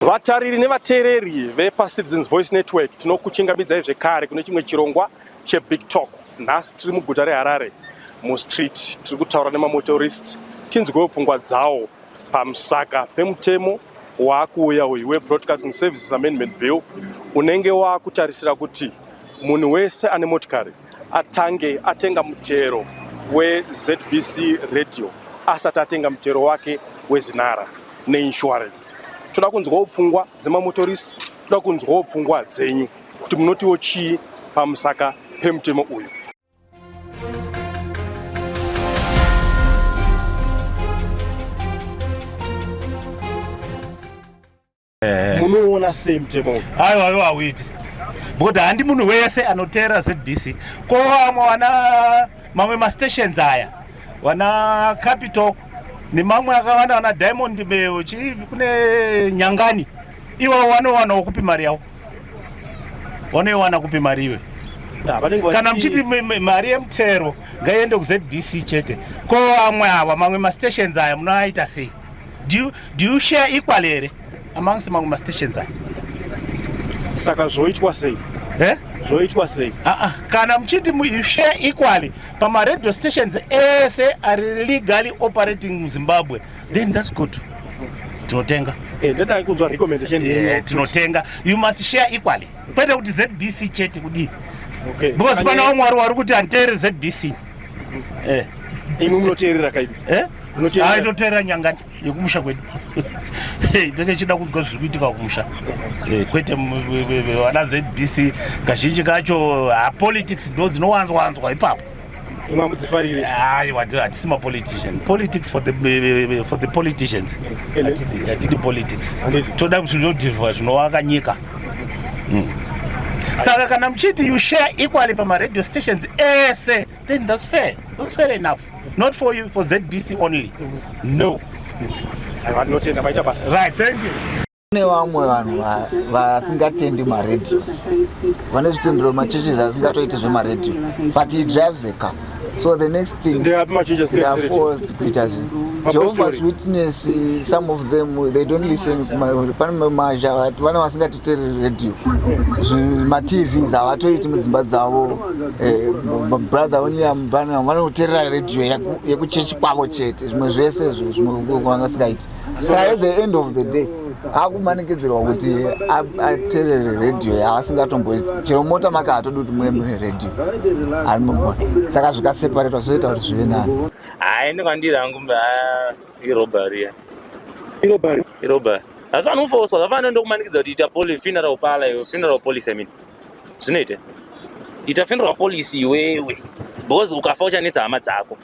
Vatariri nevateereri vepaCitizens Voice Network tinokuchingamidzai zvekare kune chimwe chirongwa cheBig Talk. Nhasi tiri muguta reHarare mustreet tiri kutaura nemamotorists tinzwewo pfungwa dzawo pamusaka pemutemo waakuuya uyu weBroadcasting Services Amendment Bill unenge waakutarisira kuti munhu wese ane motikari atange atenga mutero weZBC radio asati atenga mutero wake wezinara neinsurance. Toda kunzwawo pfungwa dzemamotorist, toda kunzwawo pfungwa dzenyu kuti munotiwo chii pamusaka pemutemo uyu. eh. munoona sei mutemo uyu aiwa aiwa hauiti because handi munhu wese anoteera zbc ko vamwe wana mamwe mastations aya wana capital nemamwe akawanda wana diamond eh, chii kune nyangani iwawo wanowana wokupi mari yawo wanoiwana kupi mari iwe kana muchiti mari yemutero ngaiende kuzbc chete ko vamwe awa mamwe mastations aya munoaita sei do you, do you share equal here amongst mamwe mastations aya saka zvoitwa sei eh? zvoitwa sei ah, ah. kana muchiti you share equally pamaradio stations ese ari legally operating muzimbabwe then thats good tinotenga eh, ndadai kunzwa recommendation eh, tinotenga you must share equally kwete kuti zbc chete kudii because pana wamwari wari kuti antere zbc Eh. Imwe munoteerera kaipi. Eh? Munoteerera. Aito teerera nyangani yekumusha kwedu. Hey, tenge chida kunzwa zviri kuitika kumusha. Eh, kwete vana ZBC kazhinji kacho ha ah, politics ndo dzinowanzwa wanzwa ipapo. Imwe mudzifarire. Hayi, wati hatisi ma politician. Politics for the for the politicians. Hatidi politics. Toda kuti zvinodhivha zvinowaka nyika. mm. saka kana muchiti you share equally pamaradio stations ese then thats fair thats fair enough not for you for zbc only no vanotenda vaita basa right thank you kune vamwe vanhu vasingatendi maradios vane zvitendero machurches asingatoiti zvemaradio but he drives a car so the next thing they are much just they are forced kuita zvinhu jehovah's witness some of them they don't listen pane mazha vana vasingatitereri radio matvs havatoiti mudzimba dzavo eh, brother onyambana vanoterera radio yekuchechi kwavo chete zvimwe zvese izvo zvimwe vangasingaiti saka at the end of the day akumanikidzirwa kuti aterere radio yaasingatombo chero mota make hatodi kuti muve mune radio arimumona saka zvikaseparetwa zvozoita kuti zvive nani hai ine kwandiri hangu irobariya irobari irobari asi vanhu kufoswa zvafana ndokumanikidza kuti ita poli funeral pala iwe funeral policy i mean zvinoita ita funeral policy iwewe because ukafa uchanetsa hama dzako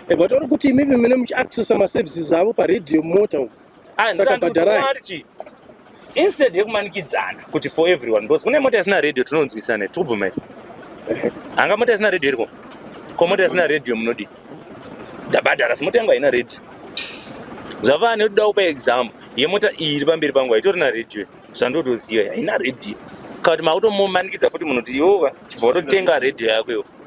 Eh, but uri kuti maybe mine muchiaccessa maservices avo paradio mota umu Ah, saka ndisandoti bhadharai wati, instead yekumanikidzana kuti for everyone because kune mota isina radio tinonzwisana tikubvumai hanga mota isina radio iriko ko mota isina radio munodii ndabhadhara si mota yangu haina radio zvava nekuda kupa example yemota iyi iri pamberi pangu haitori na radio zvandotoziva haina radio kana kuti makutomumanikidza futi munhu kuti iwowa chibva watotenga radio yako iwo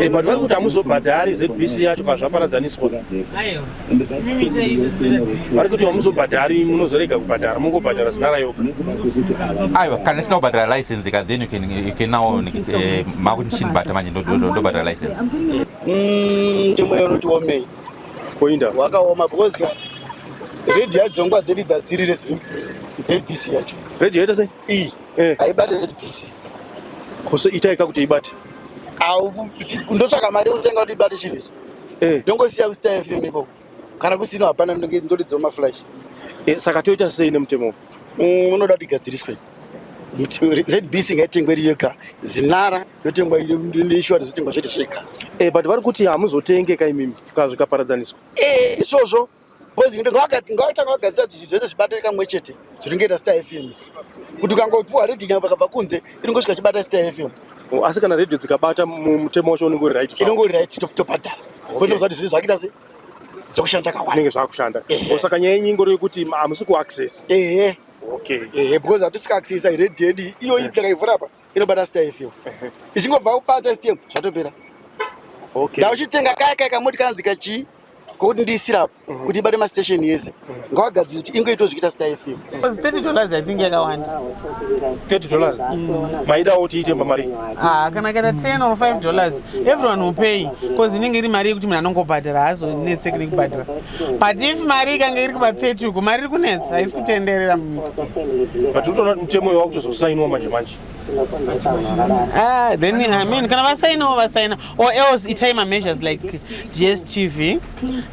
Eh, but vari kuti hamuzobhadhari zbc yacho pazvaparadzaniswa vari kuti hamuzobhadhari munozorega kubhadhara mungobhadhara zinara yoga aiwa kana isina kubhadhara license ka then you can now eh, makunishin bhata manje ndobhadhara license mm, chimwe yonoti womei koinda wakaoma because redi yadzongwa dzedi dzadzirire zbc yacho redi yoita sei iyi eh. haibate zbc kose itaika kuti ibate ndotsvaka mari yekutenga kuti ibate chiri ichi eh. ndongosiya eh. kustar fm ikoko kana kusino hapana ndonge ndoridzao maflash eh, saka toita sei nemutemo mm, unoda kuti igadziriswe zbc ngaitengwe iri yoga zinara yotengwa insurance yotengwa zvete zvega eh, but vari kuti hamuzotenge ka imimi kazvikaparadzaniswa eh, izvozvo Boys ndo vakati ngavata ngavagadzira kuti zvese zvibata kamwe chete zviringeta Star FM. Kuti ukangopiwa reading apa vakabva kunze iringosvika chibata Star FM. Oh, asi kana radio dzikabata mutemo wacho unenge uri right. Inenge uri right top top adala. Boys ndo zvati zvakaita se zvokushanda kawanda. Inenge zvakushanda. Osaka nyaya yenyu ingori kuti amusi ku access. Ehe. Okay. Ehe because atusika access radio yedu iyo ipi takaivhura apa. inobata star fm ichingobva kubata stm zvatopera okay. ndauchitenga kaya kaya kamoti kanzi kachii kokuti ndiisira mhm. kuti ibate mastation yese mhm. ngawagadziri kuti ingoito zvichiita star fm maidawo kuti iite pamari ah, kana kaita 10 or 5 dollars everyone will pay bcause inenge iri mari yekuti munhu anongobhadhara haazonetseki nekubhadhara but if mari ikange iri kuba 30 uko mari iri kunetsa haisi kutenderera munyika but utoona kuti mutemo iwa kutozosainiwa manje manje ah, then i mean kana vasainawo vasaina or else itai mameasures like dstv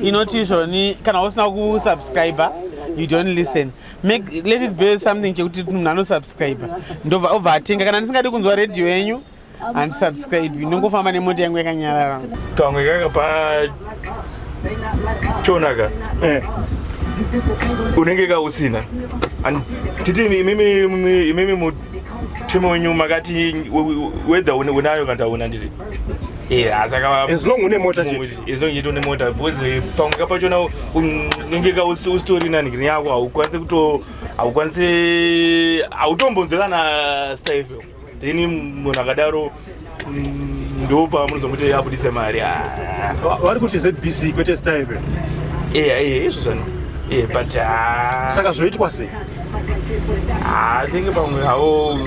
inoti izvoni kana usina kusubscriber you don't listen make let it be something chekuti munhu anosubscriber ndobva obva atenga kana ndisingadi kunzwa radio yenyu handisubscribe ndongofamba nemota yangu yakanyarara kamwe kaka pa chonaka eh. unenge kausina titi imimi mutemo wenyu makati wedha unayo kana taona ndiri asaaaongetomota bcause pamwe kapachona unenge ka usitori nani grini yako haukwanisi kuto haukwanisi hautombonzwe kana staife then munhu akadaro mm, ndo pamunozomuti abudise mari ah. vari kuti zbc kwete staive eya eh, eya izvo zvano eh, but ah. saka zvoitwa sei atenge ah, pamwe havo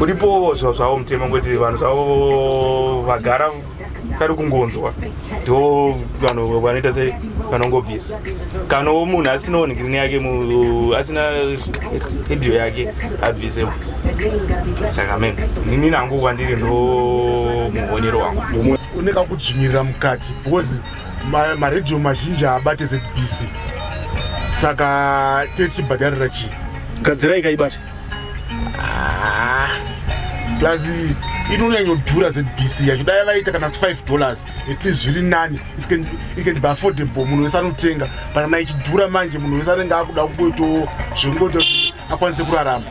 uripowo zvavo mutemo kuti vanhu zvavo vagara kari kungonzwa ndo vanhu vanoita se vanongobvisa kana wo munhu asina ongirini yake asina radio yake abvise saka me nini nangu kwandiri ndo muonero wangu une kakudzvinyirira mukati because maradio mazhinji haabate zbc saka techibhadharira chii gadzira ikaibata Ah, plus inonyanyodhura zbc yacho dai vaita kana kuti 5 dollars at least zviri nani it can, it can be affordable munhu wese anotenga but kana ichidhura manje munhu wese anenge akuda kungoitawo zvekungoita kuti akwanise kurarama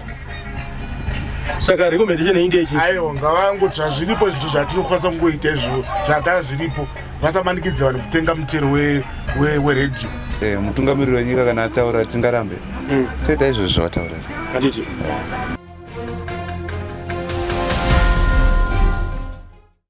saka recommendation inge ichi aiwa ngavango zvazviripo zvinhu zvatinokwanisa kungoita izvo zvagara zviripo vasamanikidze vanhu kutenga muchero weredhiyo eh, mutungamiriri wenyika kana ataura tingarambe mm. toita izvozvo zvavataura eh.